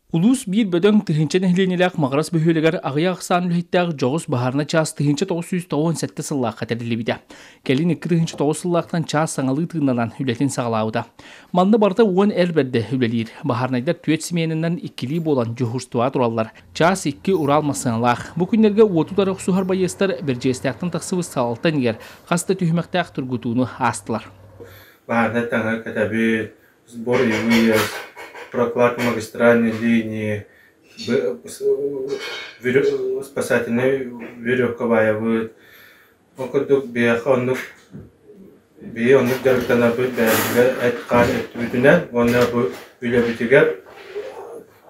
Улуус биир бөдөҥ тыһыынча нэһилиэнньэлээх Маҕарас бөһүөлэгэр аҕыйах ахсаан үлэһиттээх дьоҕус баһаарына чаас тыһыынча тоҕус сүүс тоҕуон сэттэ сыллаахха тэриллибитэ. Кэлин икки тыһыынча тоҕус сыллаахтан чаас саҥалыы тыыннанан үлэтин саҕалаабыта. Манна барыта уон эр бэрдэ үлэлиир. Баһаарынайдар түөрт семьянынан иккилии буолан дьуһуурстубаҕа тураллар. Чаас икки Урал массыыналаах. Бу күннэргэ уоту утары охсуһар байыастар Бэрдьиэстээхтэн тахсыбыт салалтан игэр хас да түһүмэхтээх тургутууну аастылар. Баарда таҥар кытабыт, сборы ЕВС, прокладка магистральной линии, спасательной веревка баайабыт. Ол курдук биһиэхэ оннук биһи оннук дьарыктанарбыт бэйэбитигэр эт-хаан эттибитинэн уонна бу үлэбитигэр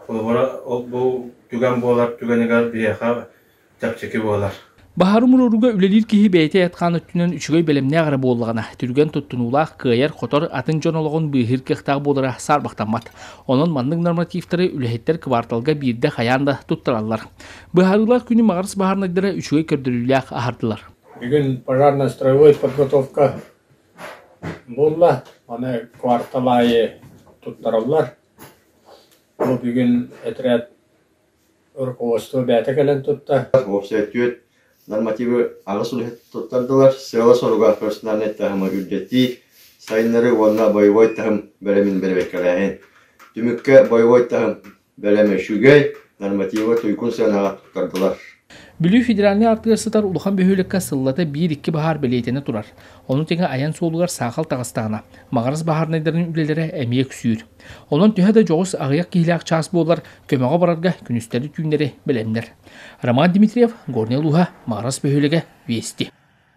холобура ол бу түгэн буолар түгэнигэр биһиэхэ чэпчэки буолар. Баһар умуруоруга үлэлиир киһи бэйэтэ атхаан өттүнэн үчүгэй бэлэмнээх эрэ буоллаҕына, түргэн туттунуулаах, кыайар, хотор атын дьон олоҕун быыһыыр кыахтаах буолара саарбахтаммат. Онон маннык нормативтары үлэһиттэр кыбаарталга биирдэ хайаан да туттараллар. Быһаарыылар күнү маҕарыс баһаарынайдара үчүгэй көрдөрүүлээх аһардылар. Бүгүн пожарно-строевой подготовка буолла. Аны квартал аайы туттараллар. Бу бүгүн отряд Рукопожатство бэйэтэ кэлэн тутта. Уопсай түөрт нормативы аҕыс үлэһит туттардылар. Сыала-соруга персональнай таһымы үрдэтии сайыннарыы уонна боевой таһым бэлэмин бэрэбиэркэлээһин. Түмүккэ боевой таһым бэлэмэ үчүгэй, нормативы туйгун сыанаҕа туттардылар. Бүлүү федеральнай артыгар сытар улахан бөһүөлэккэ сыллата биир-икки баһаар бэлиэтэнэ турар. Ону тэҥэ айан суолугар саахал таҕыстаҕына, Маҕарас баһаарынайдарын үлэлэрэ эмиэ үксүүр. Онон төһө да дьоҕус аҕыйах киһилээх чаас буолар, көмөҕө барарга күнүстэри түүннэри бэлэмнэр. Роман Дмитриев, Горнай улууһа, Маарас бөһүөлэгэ, Вести.